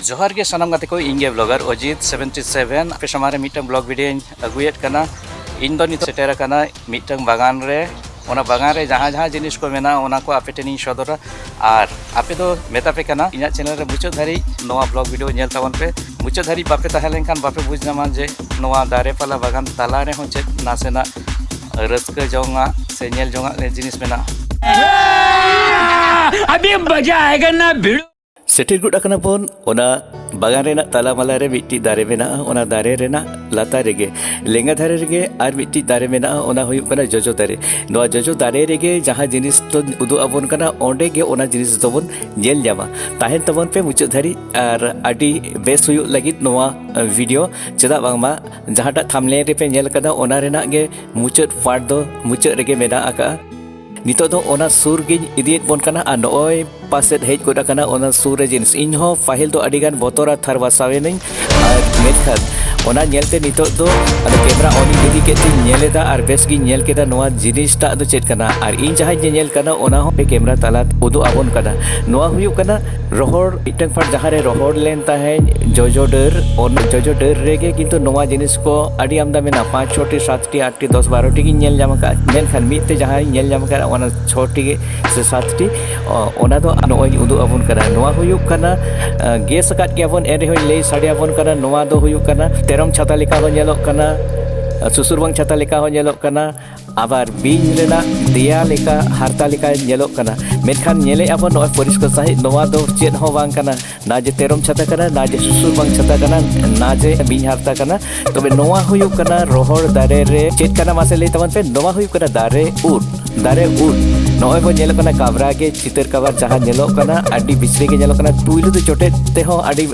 ᱡᱚᱦᱟᱨ ᱜᱮ ᱥᱟᱱᱟᱢ ᱜᱟᱛᱮ ᱠᱚ ᱤᱧ ᱜᱮ ᱵᱞᱚᱜᱟᱨ ᱚᱡᱤᱛ ᱥᱮᱵᱷᱮᱱᱴᱤ ᱥᱮᱵᱷᱮᱱ ᱟᱯᱮ ᱥᱟᱢᱟᱝ ᱨᱮ ᱢᱤᱫᱴᱟᱝ ᱵᱞᱚᱜ ᱵᱷᱤᱰᱤᱭᱳᱧ ᱟᱹᱜᱩᱭᱮᱫ ᱠᱟᱱᱟ ᱤᱧ ᱫᱚ ᱱᱤᱛᱚᱜ ᱥᱮᱴᱮᱨ ᱟᱠᱟᱱᱟ ᱢᱤᱫᱴᱟᱝ ᱵᱟᱜᱟᱱ ᱨᱮ ᱚᱱᱟ ᱵᱟᱜᱟᱱ ᱨᱮ ᱡᱟᱦᱟᱸ ᱡᱟᱦᱟᱸ ᱡᱤᱱᱤᱥ ᱠᱚ ᱢᱮᱱᱟᱜᱼᱟ ᱚᱱᱟ ᱠᱚ ᱟᱯᱮ ᱴᱷᱮᱱᱤᱧ ᱥᱚᱫᱚᱨᱟ ᱟᱨ ᱟᱯᱮ ᱫᱚ ᱢᱮᱛᱟ ᱯᱮ ᱠᱟᱱᱟ ᱤᱧᱟᱹᱜ ᱪᱮᱱᱮᱞ ᱨᱮ ᱢᱩᱪᱟᱹᱫ ᱫᱷᱟᱹᱨᱤᱡ ᱱᱚᱣᱟ ᱵᱞᱚᱜ ᱵᱷᱤᱰᱤᱭᱳ ᱧᱮᱞ ᱛᱟᱵᱚᱱ ᱯᱮ ᱢᱩᱪᱟᱹᱫ ᱫᱷᱟᱹᱨᱤᱡ ᱵᱟᱯᱮ ᱛᱟᱦᱮᱸ ᱞᱮᱱᱠᱷᱟᱱ ᱵᱟᱯᱮ ᱵᱩᱡᱽ ᱧᱟᱢᱟ ᱡᱮ ᱱᱚᱣᱟ ᱫᱟᱨᱮ ᱯᱟᱞᱟ ᱵᱟᱜᱟᱱ ᱛᱟᱞᱟ ᱨᱮᱦᱚᱸ ᱪᱮᱫ ᱱᱟᱥᱮᱱᱟᱜ ᱨᱟᱹᱥᱠᱟᱹ ᱡᱚᱝᱟᱜ ᱥᱮ ᱧᱮᱞ ᱡᱚᱝᱟᱜ ᱜᱮ ᱡᱤᱱᱤᱥ ᱢᱮᱱᱟᱜᱼᱟ ᱟᱹᱰᱤ ᱢᱚᱡᱟ ᱟᱭᱜᱟᱱᱟ ᱵᱷᱤᱲ ᱥᱮᱴᱮᱨ ᱜᱚᱫ ᱟᱠᱟᱱᱟ ᱵᱚᱱ ᱚᱱᱟ ᱵᱟᱜᱟᱱ ᱨᱮᱱᱟᱜ ᱛᱟᱞᱟ ᱢᱟᱞᱟ ᱨᱮ ᱢᱤᱫᱴᱤᱡ ᱫᱟᱨᱮ ᱢᱮᱱᱟᱜᱼᱟ ᱚᱱᱟ ᱫᱟᱨᱮ ᱨᱮᱱᱟᱜ ᱞᱟᱛᱟᱨ ᱨᱮᱜᱮ ᱞᱮᱸᱜᱟ ᱫᱷᱟᱨᱮ ᱨᱮᱜᱮ ᱟᱨ ᱢᱤᱫᱴᱤᱡ ᱫᱟᱨᱮ ᱢᱮᱱᱟᱜᱼᱟ ᱚᱱᱟ ᱦᱩᱭᱩᱜ ᱠᱟᱱᱟ ᱡᱚᱡᱚ ᱫᱟᱨᱮ ᱱᱚᱣᱟ ᱡᱚᱡᱚ ᱫᱟᱨᱮ ᱨᱮᱜᱮ ᱡᱟᱦᱟᱸ ᱡᱤᱱᱤᱥ ᱫᱚ ᱩᱫᱩᱜ ᱟᱵᱚᱱ ᱠᱟᱱᱟ ᱚᱸᱰᱮ ᱜᱮ ᱚᱱᱟ ᱡᱤᱱᱤᱥ ᱫᱚᱵᱚᱱ ᱧᱮᱞ ᱧᱟᱢᱟ ᱛᱟᱦᱮᱱ ᱛᱟᱵᱚᱱ ᱯᱮ ᱢᱩᱪᱟᱹᱫ ᱫᱷᱟᱹᱨᱤᱡ ᱟᱨ ᱟᱹᱰᱤ ᱵᱮᱥ ᱦᱩᱭᱩᱜ ᱞᱟᱹᱜᱤᱫ ᱱᱚᱣᱟ ᱵᱷᱤᱰᱤᱭᱳ ᱪᱮᱫᱟᱜ ᱵᱟᱝᱢᱟ ᱡᱟᱦᱟᱸᱴᱟᱜ ᱛᱷᱟᱢᱞᱮ ᱨᱮᱯᱮ ᱧᱮᱞ ᱟᱠᱟᱫᱟ ᱚᱱᱟ ᱨᱮᱱᱟᱜ ᱜᱮ ᱢᱩᱪᱟᱹᱫ ᱯᱟᱨᱴ ᱫᱚ ᱢᱩᱪᱟᱹᱫ ᱨᱮᱜᱮ ᱢᱮᱱᱟᱜ ᱟᱠᱟᱫᱼᱟ ᱱᱤᱛᱚᱜ ᱫᱚ ᱚᱱᱟ ᱥᱩᱨ ᱜᱤᱧ ᱤᱫᱤᱭᱮᱫ ᱵᱚᱱ ᱠᱟᱱᱟ ᱟᱨ ᱱᱚᱜᱼᱚᱭ ᱯᱟᱥᱮᱫ ᱦᱮᱡ ᱜᱚᱫ ᱟᱠᱟᱱᱟ ᱚᱱᱟ ᱥᱩᱨ ᱨᱮ ᱡᱤᱱᱤᱥ ᱤᱧ ᱦᱚᱸ ᱯᱟᱹᱦᱤᱞ ᱫᱚ ᱟᱹᱰᱤ ᱜᱟᱱ ᱵᱚᱛᱚᱨᱟ ᱛᱷᱟᱨ ᱵᱟᱥᱟᱣᱮᱱᱟᱹᱧ ᱟᱨ ᱢᱮᱱᱠᱷᱟᱱ ᱚᱱᱟ ᱧᱮᱞᱛᱮ ᱱᱤᱛᱚᱜ ᱫᱚ ᱟᱫᱚ ᱠᱮᱢᱨᱟ ᱚᱱ ᱤᱧ ᱤᱫᱤ ᱠᱮᱫ ᱛᱤᱧ ᱧᱮᱞ ᱮᱫᱟ ᱟᱨ ᱵᱮᱥ ᱜᱤᱧ ᱧᱮᱞ ᱠᱮᱫᱟ ᱱᱚᱣᱟ ᱡᱤᱱᱤᱥᱴᱟᱜ ᱫᱚ ᱪᱮᱫ ᱠᱟᱱᱟ ᱟᱨ ᱤᱧ ᱡᱟᱦᱟᱸᱧ ᱧᱮᱧᱮᱞ ᱠᱟᱱᱟ ᱚᱱᱟ ᱦᱚᱸ ᱠᱮᱢᱨᱟ ᱛᱟᱞᱟ ᱩᱫᱩᱜ ᱟᱵᱚᱱ ᱠᱟᱱᱟ ᱱᱚᱣᱟ ᱦᱩᱭᱩᱜ ᱠᱟᱱᱟ ᱨᱚᱦᱚᱲ ᱢᱤᱫᱴᱟᱝ ᱯᱟᱴ ᱡᱟᱦᱟᱸ ᱨᱮ ᱨᱚᱦᱚᱲ ᱞᱮᱱ ᱛᱟᱦᱮᱸᱫ ᱡᱚᱡᱚ ᱰᱟᱹᱨ ᱚᱱᱟ ᱡᱚᱡᱚ ᱰᱟᱹᱨ ᱨᱮᱜᱮ ᱠᱤᱱᱛᱩ ᱱᱚᱣᱟ ᱡᱤᱱᱤᱥ ᱠᱚ ᱟᱹᱰᱤ ᱟᱢᱫᱟ ᱢᱮᱱᱟᱜᱼᱟ ᱯᱟᱸᱪ ᱪᱷᱚᱴᱤ ᱥᱟᱛᱴᱤ ᱟᱴᱴᱤ ᱫᱚᱥ ᱵᱟᱨᱚᱴᱤ ᱜᱤᱧ ᱧᱮᱞ ᱧᱟᱢ ᱟᱠᱟᱫᱼᱟ ᱢᱮᱱᱠᱷᱟᱱ ᱢᱤᱫ ᱛᱮ ᱡᱟᱦᱟᱸᱧ ᱧᱮᱞ ᱧᱟᱢ ᱟᱠᱟᱫᱼᱟ ᱚᱱᱟ ᱪᱷᱚᱴᱤ ᱜᱮ ᱥᱮ ᱥᱟᱛᱴᱤ ᱚᱱᱟ ᱫᱚ ᱱᱚᱜᱼᱚᱭᱤᱧ ᱩᱫᱩᱜ ᱟᱵᱚᱱ ᱠᱟᱱᱟ ᱱᱚᱣᱟ ᱦᱩᱭᱩᱜ ᱠᱟᱱᱟ ᱜᱮᱥ ᱟᱠᱟᱫ ᱜᱮᱭᱟᱵᱚᱱ ᱮᱱ ᱨᱮᱦᱚᱸᱧ ᱞᱟᱹᱭ ᱥᱟᱰᱮ ᱟᱵᱚᱱ ᱠᱟᱱᱟ ᱱᱚᱣᱟ ᱫᱚ ᱦᱩᱭᱩᱜ ᱠᱟᱱᱟ ᱛᱮᱨᱚᱢ ᱪᱷᱟᱛᱟ ᱞᱮᱠᱟ ᱦᱚᱸ ᱧᱮᱞᱚᱜ ᱠᱟᱱᱟ ᱥᱩᱥᱩᱨᱵᱟᱝ ᱪᱷᱟᱛᱟ ᱞᱮᱠᱟ ᱦᱚᱸ ᱧᱮᱞᱚᱜ ᱠᱟᱱᱟ ᱟᱵᱟᱨ ᱵᱤᱧ ᱨᱮᱱᱟᱜ ᱫᱮᱭᱟ ᱞᱮᱠᱟ ᱦᱟᱨᱛᱟ ᱞᱮᱠᱟ ᱧᱮᱞᱚᱜ ᱠᱟᱱᱟ ᱢᱮᱱᱠᱷᱟᱱ ᱧᱮᱞᱮ ᱟᱵᱚ ᱱᱚᱜᱼᱚᱭ ᱯᱚᱨᱤᱥᱠᱟᱨ ᱥᱟᱺᱦᱤᱡ ᱱᱚᱣᱟ ᱫᱚ ᱪᱮᱫ ᱦᱚᱸ ᱵᱟᱝ ᱠᱟᱱᱟ ᱱᱟ ᱡᱮ ᱛᱮᱨᱚᱢ ᱪᱷᱟᱛᱟ ᱠᱟᱱᱟ ᱱᱟ ᱡᱮ ᱥᱩᱥᱩᱨ ᱵᱟᱝ ᱪᱷᱟᱛᱟ ᱠᱟᱱᱟ ᱱᱟ ᱡᱮ ᱵᱤᱧ ᱦᱟᱨᱛᱟ ᱠᱟᱱᱟ ᱛᱚᱵᱮ ᱱᱚᱣᱟ ᱦᱩᱭᱩᱜ ᱠᱟᱱᱟ ᱨᱚᱦᱚᱲ ᱫᱟᱨᱮ ᱨᱮ ᱪᱮᱫ ᱠᱟᱱᱟ ᱢᱟᱥᱮ ᱞᱟᱹᱭ ᱛᱟᱵᱚᱱ ᱯᱮ ᱱᱚᱣᱟ ᱦᱩᱭᱩᱜ ᱠᱟᱱᱟ ᱫᱟᱨᱮ ᱩᱫ ᱫᱟᱨᱮ ᱩᱫ ᱱᱚᱜᱼᱚᱭ ᱵᱚ ᱧᱮᱞᱚᱜ ᱠᱟᱱᱟ ᱠᱟᱵᱨᱟ ᱜᱮ ᱪᱤᱛᱟᱹᱨ ᱠᱟᱵᱟᱨ ᱡᱟᱦᱟᱸ ᱧᱮᱞᱚᱜ ᱠᱟᱱᱟ ᱟᱹᱰᱤ ᱵᱤᱥᱨᱮ ᱜᱮ ᱧᱮᱞᱚᱜ ᱠᱟᱱᱟ ᱯᱩᱭᱞᱩ ᱫᱚ ᱪᱚᱴᱮᱫ ᱛᱮᱦᱚᱸ ᱟᱹᱰᱤ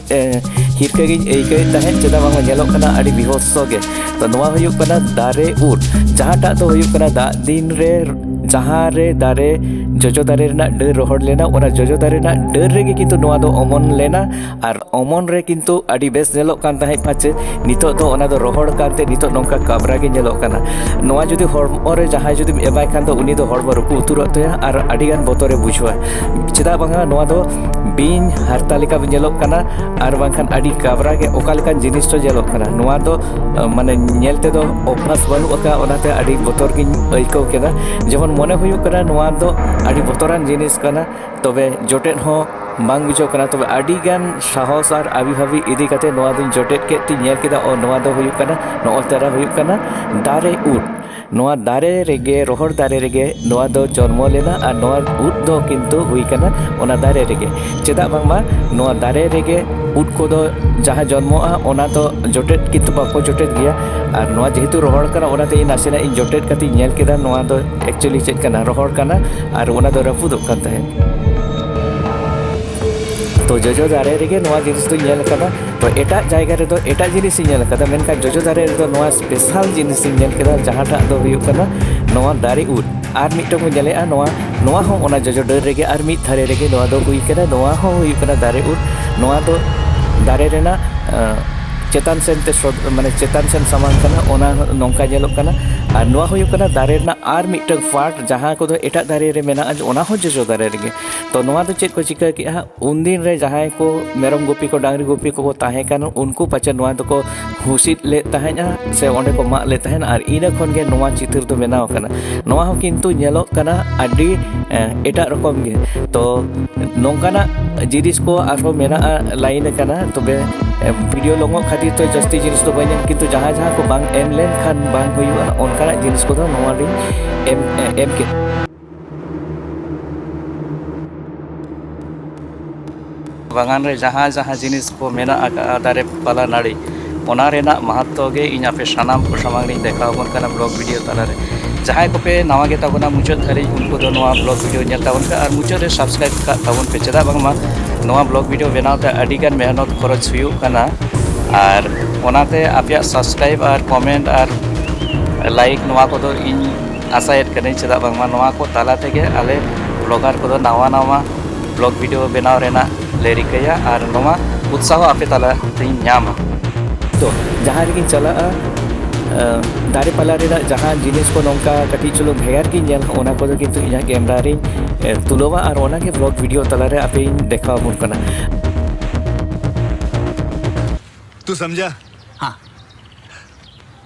ᱦᱤᱨᱠᱟᱹ ᱜᱤᱧ ᱟᱹᱭᱠᱟᱹᱣᱮᱫ ᱛᱟᱦᱮᱸᱫ ᱪᱮᱫᱟᱜ ᱵᱟᱝ ᱧᱮᱞᱚᱜ ᱠᱟᱱᱟ ᱟᱹᱰᱤ ᱵᱤᱦᱚᱥᱚ ᱜᱮ ᱛᱚ ᱱᱚᱣᱟ ᱦᱩᱭᱩᱜ ᱠᱟᱱᱟ ᱫᱟᱨᱮ ᱩᱨ ᱡᱟᱦᱟᱸᱴᱟᱜ ᱫᱚ ᱦᱩᱭᱩᱜ ᱠᱟᱱᱟ ᱫᱟᱜ ᱫᱤᱱ ᱨᱮ ᱡᱟᱦᱟᱸ ᱨᱮ ᱫᱟᱨᱮ ᱡᱚᱡᱚ ᱫᱟᱨᱮ ᱨᱮᱱᱟᱜ ᱰᱟᱹᱨ ᱨᱚᱦᱚᱲ ᱞᱮᱱᱟ ᱚᱱᱟ ᱡᱚᱡᱚ ᱫᱟᱨᱮ ᱨᱮᱱᱟᱜ ᱰᱟᱹᱨ ᱨᱮᱜᱮ ᱠᱤᱱᱛᱩ ᱱᱚᱣᱟ ᱫᱚ ᱚᱢᱚᱱ ᱞᱮᱱᱟ ᱟᱨ ᱚᱢᱚᱱ ᱨᱮ ᱠᱤᱱᱛᱩ ᱟᱹᱰᱤ ᱵᱮᱥ ᱧᱮᱞᱚᱜ ᱠᱟᱱ ᱛᱟᱦᱮᱸᱫ ᱯᱟᱪᱮ ᱱᱤᱛᱚᱜ ᱫᱚ ᱚᱱᱟ ᱫᱚ ᱨᱚᱦᱚᱲ ᱠᱟᱱᱛᱮ ᱱᱤᱛᱚᱜ ᱱᱚᱝᱠᱟ ᱠᱟᱵᱽᱨᱟ ᱜᱮ ᱧᱮᱞᱚᱜ ᱠᱟᱱᱟ ᱱᱚᱣᱟ ᱡᱩᱫᱤ ᱦᱚᱲᱢᱚ ᱨᱮ ᱡᱟᱦᱟᱸᱭ ᱡᱩᱫᱤᱢ ᱮᱢᱟᱭ ᱠᱷᱟᱱ ᱫᱚ ᱩᱱᱤ ᱫᱚ ᱦᱚᱲᱢᱚ ᱨᱩᱠᱩ ᱩᱛᱟᱹᱨᱚᱜ ᱛᱟᱭᱟ ᱟᱨ ᱟᱹᱰᱤᱜᱟᱱ ᱵᱚᱛᱚᱨᱮ ᱵᱩᱡᱷᱟᱹᱣᱟ ᱪᱮᱫᱟᱜ ᱵᱟᱝᱟ ᱱᱚᱣᱟ ᱫᱚ ᱵᱤᱧ ᱦᱟᱨᱛᱟ ᱞᱮᱠᱟ ᱧᱮᱞᱚᱜ ᱠᱟᱱᱟ ᱟᱨ ᱵᱟᱝᱠᱷᱟᱱ ᱟᱹᱰᱤ ᱠᱟᱵᱨᱟ ᱜᱮ ᱚᱠᱟ ᱞᱮᱠᱟᱱ ᱡᱤᱱᱤᱥ ᱪᱚ ᱧᱮᱞᱚᱜ ᱠᱟᱱᱟ ᱱᱚᱣᱟ ᱫᱚ ᱢᱟᱱᱮ ᱧᱮᱞ ᱛᱮᱫᱚ ᱚᱵᱷᱟᱥ ᱵᱟᱹᱱᱩᱜ ᱟᱠᱟᱫ ᱚᱱᱟᱛᱮ ᱟᱹᱰᱤ ᱵᱚᱛᱚᱨ ᱜᱤᱧ ᱟᱹᱭᱠᱟᱹᱣ ᱠᱮᱫᱟ ᱡᱮᱢᱚᱱ ᱢᱚᱱᱮ ᱦᱩᱭᱩᱜ ᱠᱟᱱᱟ ᱱᱚᱣᱟ ᱫᱚ ᱟᱹᱰᱤ ᱵᱚᱛᱚᱨᱟᱱ ᱡᱤᱱᱤᱥ ᱠᱟᱱᱟ ᱛᱚᱵᱮ ᱡᱚᱴᱮᱫ ᱦᱚᱸ ᱵᱟᱝ ᱵᱩᱡᱷᱟᱹᱜ ᱠᱟᱱᱟ ᱛᱚᱵᱮ ᱟᱹᱰᱤ ᱜᱟᱱ ᱥᱟᱦᱚᱥ ᱟᱨ ᱟᱹᱵᱤ ᱵᱷᱟᱹᱵᱤ ᱤᱫᱤ ᱠᱟᱛᱮ ᱱᱚᱣᱟ ᱫᱚᱧ ᱡᱚᱴᱮᱫ ᱠᱮᱫ ᱛᱤᱧ ᱧᱮᱞ ᱠᱮᱫᱟ ᱚ ᱱᱚᱣᱟ ᱫᱚ ᱦᱩᱭᱩᱜ ᱠᱟᱱᱟ ᱱᱚᱜᱼᱚᱭ ᱛᱟᱨᱟ ᱦᱩᱭᱩᱜ ᱠᱟᱱᱟ ᱫᱟᱨᱮ ᱩᱫ ᱱᱚᱣᱟ ᱫᱟᱨᱮ ᱨᱮᱜᱮ ᱨᱚᱦᱚᱲ ᱫᱟᱨᱮ ᱨᱮᱜᱮ ᱱᱚᱣᱟ ᱫᱚ ᱡᱚᱱᱢᱚ ᱞᱮᱱᱟ ᱟᱨ ᱱᱚᱣᱟ ᱩᱫ ᱫᱚ ᱠᱤᱱᱛᱩ ᱦᱩᱭ ᱠᱟᱱᱟ ᱚᱱᱟ ᱫᱟᱨᱮ ᱨᱮᱜᱮ ᱪᱮᱫᱟᱜ ᱵᱟᱝᱢᱟ ᱱᱚᱣᱟ ᱫᱟᱨᱮ ᱨᱮᱜᱮ ᱩᱫ ᱠᱚᱫᱚ ᱡᱟᱦᱟᱸ ᱡᱚᱱᱢᱚᱜᱼᱟ ᱚᱱᱟ ᱫᱚ ᱡᱚᱴᱮᱫ ᱠᱤᱱᱛᱩ ᱵᱟᱠᱚ ᱡᱚᱴᱮᱫ ᱜᱮᱭᱟ ᱟᱨ ᱱᱚᱣᱟ ᱡᱮᱦᱮᱛᱩ ᱨᱚᱦᱚᱲ ᱠᱟᱱᱟ ᱚᱱᱟᱛᱮ ᱤᱧ ᱱᱟᱥᱮᱱᱟᱜ ᱤᱧ ᱡᱚᱴᱮᱫ ᱠᱟᱛᱮ ᱤᱧ ᱧᱮᱞ ᱠᱮᱫᱟ ᱱᱚᱣᱟ ᱫᱚ ᱮᱠᱪᱩᱭᱮᱞᱤ ᱪᱮᱫ ᱠᱟᱱᱟ ᱨᱚᱦᱚᱲ ᱠᱟᱱᱟ ᱟᱨ ᱚᱱᱟ ᱫᱚ ᱨᱟᱹᱯᱩᱫᱚᱜ ᱠᱟᱱ ᱛᱟᱦᱮᱸᱫ ᱛᱚ ᱡᱚᱡᱚ ᱫᱟᱨᱮ ᱨᱮᱜᱮ ᱱᱚᱣᱟ ᱡᱤᱱᱤᱥ ᱫᱚᱧ ᱧᱮᱞ ᱟᱠᱟᱫᱟ ᱛᱚ ᱮᱴᱟᱜ ᱡᱟᱭᱜᱟ ᱨᱮᱫᱚ ᱮᱴᱟᱜ ᱡᱤᱱᱤᱥ ᱤᱧ ᱧᱮᱞ ᱟᱠᱟᱫᱟ ᱢᱮᱱᱠᱷᱟᱱ ᱡᱚᱡᱚ ᱫᱟᱨᱮ ᱨᱮᱫᱚ ᱱᱚᱣᱟ ᱵᱮᱥᱟᱞ ᱡᱤᱱᱤᱥ ᱤᱧ ᱧᱮᱞ ᱠᱮᱫᱟ ᱡᱟᱦᱟᱸᱴᱟᱜ ᱫᱚ ᱦᱩᱭᱩᱜ ᱠᱟᱱᱟ ᱱᱚᱣᱟ ᱫᱟᱨᱮ ᱩᱫ ᱟᱨ ᱢᱤᱫᱴᱟᱝ ᱵᱚᱱ ᱧᱮᱞᱮᱜᱼᱟ ᱱᱚᱣᱟ ᱱᱚᱣᱟ ᱦᱚᱸ ᱚᱱᱟ ᱡᱚᱡᱚ ᱰᱟᱹᱨ ᱨᱮᱜᱮ ᱟᱨ ᱢᱤᱫ ᱫᱷᱟᱨᱮ ᱨᱮᱜᱮ ᱱᱚᱣᱟ ᱫᱚ ᱦᱩᱭ ᱠᱟᱱᱟ ᱱᱚᱣᱟ ᱦᱚᱸ ᱦᱩᱭᱩᱜ ᱠᱟᱱᱟ ᱫᱟᱨᱮ ᱩᱫ ᱱᱚᱣᱟ ᱫᱚ ᱫᱟᱨᱮ ᱨᱮᱱᱟᱜ ᱪᱮᱛᱟᱱ ᱥᱮᱱ ᱛᱮ ᱥᱚᱫ ᱢᱟᱱᱮ ᱪᱮᱛᱟᱱ ᱥᱮᱱ ᱥᱟᱢᱟᱝ ᱠᱟᱱᱟ ᱚᱱᱟ ᱱᱚᱝᱠᱟ ᱧᱮᱞᱚᱜ ᱠᱟᱱᱟ ᱟᱨ ᱱᱚᱣᱟ ᱦᱩᱭᱩᱜ ᱠᱟᱱᱟ ᱫᱟᱨᱮ ᱨᱮᱱᱟᱜ ᱟᱨ ᱢᱤᱫᱴᱟᱝ ᱯᱟᱨᱴ ᱡᱟᱦᱟᱸ ᱠᱚᱫᱚ ᱮᱴᱟᱜ ᱫᱟᱨᱮ ᱨᱮ ᱢᱮᱱᱟᱜᱼᱟ ᱚᱱᱟ ᱦᱚᱸ ᱡᱚᱡᱚ ᱫᱟᱨᱮ ᱨᱮᱜᱮ ᱛᱚ ᱱᱚᱣᱟ ᱫᱚ ᱪᱮᱫ ᱠᱚ ᱪᱤᱠᱟᱹ ᱠᱮᱜᱼᱟ ᱩᱱᱫᱤᱱ ᱨᱮ ᱡᱟᱦᱟᱸᱭ ᱠᱚ ᱢᱮᱨᱚᱢ ᱜᱩᱯᱤ ᱠᱚ ᱰᱟᱝᱨᱤ ᱜᱩᱯᱤ ᱠᱚᱠᱚ ᱛᱟᱦᱮᱸ ᱠᱟᱱᱟ ᱩᱱᱠᱩ ᱯᱟᱪᱮᱫ ᱱᱚᱣᱟ ᱫᱚᱠᱚ ᱦᱩᱥᱤᱫ ᱞᱮᱫ ᱛᱟᱦᱮᱸᱫᱼᱟ ᱥᱮ ᱚᱸᱰᱮ ᱠᱚ ᱢᱟᱜ ᱞᱮᱫ ᱛᱟᱦᱮᱸᱫ ᱟᱨ ᱤᱱᱟᱹ ᱠᱷᱚᱱ ᱜᱮ ᱱᱚᱣᱟ ᱪᱤᱛᱟᱹᱨ ᱫᱚ ᱵᱮᱱᱟᱣ ᱟᱠᱟᱱᱟ ᱱᱚᱣᱟ ᱦᱚᱸ ᱠᱤᱱᱛᱩ ᱧᱮᱞᱚᱜ ᱠᱟᱱᱟ ᱟᱹᱰᱤ ᱮᱴᱟᱜ ᱨᱚᱠᱚᱢ ᱜᱮ ᱛᱚ ᱱᱚᱝᱠᱟᱱᱟᱜ ᱡᱤᱱᱤᱥ ᱠᱚ ᱟᱨᱦᱚᱸ ᱢᱮᱱᱟᱜᱼᱟ ᱞᱟᱭᱤᱱ ᱟᱠᱟᱱᱟ ᱛᱚᱵᱮ ᱵᱷᱤᱰᱤᱭᱳ ᱞᱚᱝᱚᱜ ᱠᱷᱟᱹᱛᱤᱨ ᱛᱮ ᱡᱟᱹᱥᱛᱤ ᱡᱤᱱᱤᱥ ᱫᱚ ᱵᱟᱹᱧ ᱮᱢ ᱠᱤᱱᱛᱩ ᱡᱟᱦᱟᱸ ᱡᱟᱦᱟᱸ ᱠᱚ ᱵᱟᱝ ᱮᱢ ᱞᱮᱱᱠᱷᱟᱱ ᱵᱟᱝ ᱦᱩᱭᱩᱜᱼᱟ ᱚᱱᱠᱟᱱᱟᱜ ᱡᱤᱱᱤᱥ ᱠᱚᱫᱚ ᱱᱚᱣᱟ ᱞᱤᱧ ᱮᱢ ᱮᱢ ᱠᱮᱫᱟ ᱵᱟᱜᱟᱱ ᱨᱮ ᱡᱟᱦᱟᱸ ᱡᱟᱦᱟᱸ ᱡᱤᱱᱤᱥ ᱠᱚ ᱢᱮᱱᱟᱜ ᱟᱠᱟᱫᱼᱟ ᱫᱟᱨᱮ ᱯᱟᱞᱟ ᱱᱟᱹᱲᱤ ᱚᱱᱟ ᱨᱮᱱᱟᱜ ᱢᱟᱦᱟᱛᱛᱚ ᱜᱮ ᱤᱧ ᱟᱯᱮ ᱥᱟᱱᱟᱢ ᱠᱚ ᱥᱟᱢᱟᱝ ᱨᱤᱧ ᱫᱮᱠᱷᱟᱣ ᱟᱵᱚᱱ ᱠᱟᱱᱟ ᱵᱞᱚᱜ ᱵᱷᱤᱰᱤᱭᱳ ᱛᱟᱞᱟᱨᱮ ᱡᱟᱦᱟᱸᱭ ᱠᱚᱯᱮ ᱱᱟᱣᱟ ᱜᱮ ᱛᱟᱵᱚᱱᱟ ᱢᱩᱪᱟᱹᱫ ᱫᱷᱟᱹᱨᱤᱡ ᱩᱱᱠᱩ ᱫᱚ ᱱᱚᱣᱟ ᱵᱞᱚᱜ ᱵᱷᱤᱰᱤᱭᱳ ᱧᱮᱞ ᱛᱟᱵᱚᱱ ᱯᱮ ᱟᱨ ᱢᱩᱪᱟᱹᱫ ᱨᱮ ᱥᱟᱵᱥᱠᱨᱟᱭᱤᱵ ᱠᱟᱜ ᱛᱟᱵᱚᱱ ᱯᱮ ᱪᱮᱫᱟᱜ ᱵᱟᱝᱢᱟ ᱱᱚᱣᱟ ᱵᱞᱚᱜ ᱵᱷᱤᱰᱤᱭᱳ ᱵᱮᱱᱟᱣ ᱛᱮ ᱟᱹᱰᱤ ᱜᱟᱱ ᱢᱮᱦᱱᱚᱛ ᱠᱷᱚᱨᱚᱪ ᱦᱩᱭᱩᱜ ᱠᱟᱱᱟ ᱟᱨ ᱚᱱᱟᱛᱮ ᱟᱯᱮᱭᱟᱜ ᱥᱟᱵᱥᱠᱨᱟᱭᱤᱵ ᱟᱨ ᱠᱚᱢᱮᱱᱴ ᱟᱨ ᱞᱟᱭᱤᱠ ᱱᱚᱣᱟ ᱠᱚᱫᱚ ᱤᱧ ᱟᱥᱟᱭᱮᱫ ᱠᱟᱹᱱᱟᱹᱧ ᱪᱮᱫᱟᱜ ᱵᱟᱝᱢᱟ ᱱᱚᱣᱟ ᱠᱚ ᱛᱟᱞᱟ ᱛᱮᱜᱮ ᱟᱞᱮ ᱵᱞᱚᱜᱟᱨ ᱠᱚᱫᱚ ᱱᱟᱣᱟ ᱱᱟᱣᱟ ᱵᱞᱚᱜ ᱵᱷᱤᱰᱤᱭᱳ ᱵᱮᱱᱟᱣ ᱨᱮᱱᱟᱜ ᱞᱮ ᱨᱤᱠᱟᱹᱭᱟ ᱟᱨ ᱱᱚᱣᱟ ᱩᱛᱥᱟᱦᱚ ᱟᱯᱮ ᱛᱟᱞᱟ ᱛᱮᱧ ᱧᱟᱢᱟ ᱛᱚ ᱡᱟᱦᱟᱸ ᱨᱮᱜᱮᱧ ᱪᱟᱞᱟᱜᱼᱟ ᱫᱟᱨᱮ ᱯᱟᱞᱟ ᱨᱮᱱᱟᱜ ᱡᱟᱦᱟᱸ ᱡᱤᱱᱤᱥ ᱠᱚ ᱱᱚᱝᱠᱟ ᱠᱟᱹᱴᱤᱡ ᱪᱩᱞᱩᱝ ᱵᱷᱮᱜᱟᱨ ᱜᱤᱧ ᱧᱮᱞ ᱚᱱᱟ ᱠᱚᱫᱚ ᱠᱤᱱᱛᱩ ᱤᱧᱟᱹᱜ ᱠᱮᱢᱨᱟ ᱨᱤᱧ ᱛᱩᱞᱟᱹᱣᱟ ᱟᱨ ᱚᱱᱟᱜᱮ ᱵᱞᱚᱜ ᱵᱷᱤᱰᱤᱭᱳ ᱛᱟᱞᱟᱨᱮ ᱟᱯᱮᱧ ᱫᱮᱠᱷᱟᱣ ᱟᱵᱚᱱ ᱠᱟᱱᱟ ᱛᱩ ᱥᱚᱢᱡᱟ ᱦᱟᱸ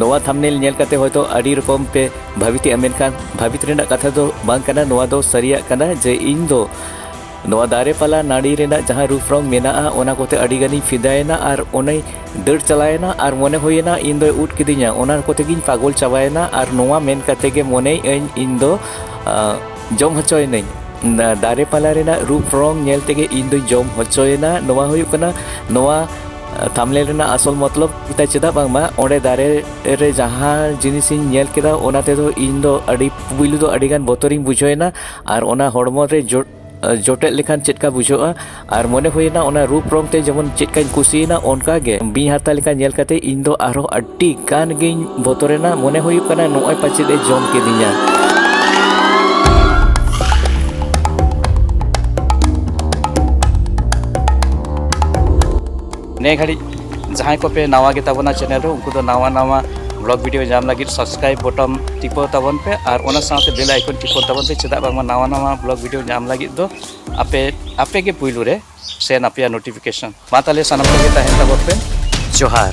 ᱱᱚᱣᱟ ᱛᱷᱟᱢᱱᱮᱞ ᱧᱮᱞ ᱠᱟᱛᱮ ᱦᱚᱭᱛᱚ ᱟᱹᱰᱤ ᱨᱚᱠᱚᱢ ᱯᱮ ᱵᱷᱟᱵᱤᱛᱮᱜᱼᱟ ᱢᱮᱱᱠᱷᱟᱱ ᱵᱷᱟᱵᱤᱛ ᱨᱮᱱᱟᱜ ᱠᱟᱛᱷᱟ ᱫᱚ ᱵᱟᱝ ᱠᱟᱱᱟ ᱱᱚᱣᱟ ᱫᱚ ᱥᱟᱹᱨᱤᱭᱟᱜ ᱠᱟᱱᱟ ᱡᱮ ᱤᱧ ᱫᱚ ᱱᱚᱣᱟ ᱫᱟᱨᱮ ᱯᱟᱞᱟ ᱱᱟᱹᱲᱤ ᱨᱮᱱᱟᱜ ᱡᱟᱦᱟᱸ ᱨᱩᱯ ᱨᱚᱝ ᱢᱮᱱᱟᱜᱼᱟ ᱚᱱᱟ ᱠᱚᱛᱮ ᱟᱹᱰᱤ ᱜᱟᱱᱤᱧ ᱯᱷᱤᱫᱟᱭᱮᱱᱟ ᱟᱨ ᱚᱱᱮ ᱫᱟᱹᱲ ᱪᱟᱞᱟᱣᱮᱱᱟ ᱟᱨ ᱢᱚᱱᱮ ᱦᱩᱭᱮᱱᱟ ᱤᱧ ᱫᱚᱭ ᱩᱫ ᱠᱤᱫᱤᱧᱟ ᱚᱱᱟ ᱠᱚᱛᱮ ᱜᱤᱧ ᱯᱟᱜᱚᱞ ᱪᱟᱵᱟᱭᱮᱱᱟ ᱟᱨ ᱱᱚᱣᱟ ᱢᱮᱱ ᱠᱟᱛᱮ ᱜᱮ ᱢᱚᱱᱮᱭᱮᱜᱼᱟᱹᱧ ᱤᱧ ᱫᱚ ᱡᱚᱢ ᱦᱚᱪᱚᱭᱮᱱᱟᱹᱧ ᱫᱟᱨᱮ ᱯᱟᱞᱟ ᱨᱮᱱᱟᱜ ᱨᱩᱯ ᱨᱚᱝ ᱧᱮᱞ ᱛᱮᱜᱮ ᱤᱧ ᱫᱚᱧ ᱡᱚᱢ ᱦᱚᱪᱚᱭᱮᱱᱟ ᱱᱚᱣᱟ ᱦᱩᱭᱩᱜ ᱠᱟᱱᱟ ᱱᱚᱣᱟ ᱛᱷᱟᱢᱞᱮᱞ ᱨᱮᱱᱟᱜ ᱟᱥᱚᱞ ᱢᱚᱛᱞᱚᱵ ᱛᱟᱭ ᱪᱮᱫᱟᱜ ᱵᱟᱝᱢᱟ ᱚᱸᱰᱮ ᱫᱟᱨᱮ ᱨᱮ ᱡᱟᱦᱟᱸ ᱡᱤᱱᱤᱥ ᱤᱧ ᱧᱮᱞ ᱠᱮᱫᱟ ᱚᱱᱟ ᱛᱮᱫᱚ ᱤᱧ ᱫᱚ ᱟᱹᱰᱤ ᱯᱩᱭᱞᱩ ᱫᱚ ᱟᱹᱰᱤ ᱜᱟᱱ ᱵᱚᱛᱚᱨᱤᱧ ᱵᱩᱡᱷᱟᱹᱣ ᱮᱱᱟ ᱟᱨ ᱚᱱᱟ ᱦᱚᱲᱢᱚ ᱨᱮ ᱡᱚ ᱡᱚᱴᱮᱫ ᱞᱮᱠᱷᱟᱱ ᱪᱮᱫ ᱞᱮᱠᱟ ᱵᱩᱡᱷᱟᱹᱜᱼᱟ ᱟᱨ ᱢᱚᱱᱮ ᱦᱩᱭᱮᱱᱟ ᱚᱱᱟ ᱨᱩᱯ ᱨᱚᱝ ᱛᱮ ᱡᱮᱢᱚᱱ ᱪᱮᱫ ᱞᱮᱠᱟᱧ ᱠᱩᱥᱤᱭᱮᱱᱟ ᱚᱱᱠᱟ ᱜᱮ ᱵᱤᱧ ᱦᱟᱨᱛᱟ ᱞᱮᱠᱟ ᱧᱮᱞ ᱠᱟᱛᱮ ᱤᱧ ᱫᱚ ᱟᱨᱦᱚᱸ ᱟᱹᱰᱤ ᱜᱟᱱ ᱜᱤᱧ ᱵᱚᱛᱚᱨᱮᱱᱟ ᱢᱚᱱᱮ ᱦᱩᱭᱩᱜ ᱠᱟᱱᱟ ᱱᱚᱜᱼᱚᱭ ᱯᱟᱪᱮᱫ ᱮ ᱡᱚᱢ ᱠᱤᱫᱤᱧᱟ ᱱᱮ ᱜᱷᱟᱹᱲᱤᱡ ᱡᱟᱦᱟᱸᱭ ᱠᱚᱯᱮ ᱱᱟᱣᱟ ᱜᱮ ᱛᱟᱵᱚᱱᱟ ᱪᱮᱱᱮᱞ ᱨᱮ ᱩᱱᱠᱩ ᱫᱚ ᱱᱟᱣᱟ ᱱᱟᱣᱟ ᱵᱞᱚᱜ ᱵᱷᱤᱰᱤᱭᱳ ᱧᱟᱢ ᱞᱟᱹᱜᱤᱫ ᱥᱟᱵᱥᱠᱨᱟᱭᱤᱵ ᱵᱚᱴᱚᱢ ᱴᱤᱯᱟᱹᱣ ᱛᱟᱵᱚᱱ ᱯᱮ ᱟᱨ ᱚᱱᱟ ᱥᱟᱶᱛᱮ ᱵᱮᱞ ᱟᱭᱠᱚᱱ ᱴᱤᱯᱟᱹᱣ ᱛᱟᱵᱚᱱ ᱯᱮ ᱪᱮᱫᱟᱜ ᱵᱟᱝᱢᱟ ᱱᱟᱣᱟ ᱱᱟᱣᱟ ᱵᱞᱚᱜ ᱵᱷᱤᱰᱤᱭᱳ ᱧᱟᱢ ᱞᱟᱹᱜᱤᱫ ᱫᱚ ᱟᱯᱮ ᱟᱯᱮ ᱜᱮ ᱯᱩᱭᱞᱩ ᱨᱮ ᱥᱮᱱ ᱟᱯᱮᱭᱟ ᱱᱳᱴᱤᱯᱷᱤᱠᱮᱥᱚᱱ ᱢᱟ ᱛᱟᱦᱞᱮ ᱥᱟᱱᱟᱢ ᱠᱚᱜᱮ ᱛᱟᱦᱮᱱ ᱛᱟᱵᱚᱱ ᱯᱮ ᱡᱚᱦᱟᱨ